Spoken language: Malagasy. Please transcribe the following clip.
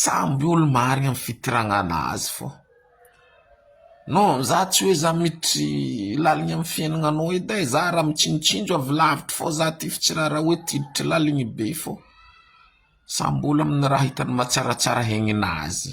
Samby olo marigny am fitiragnagnà azy fô, non za tsy oe za miditry laligny am fiaignagnanao edy e, za raha mitsinotsinjo avy lavitry fô za ty tsy raha raha oe ty hiditry laligny be fô, samby olo aminy raha hitany mahatsaratsara haigninazy.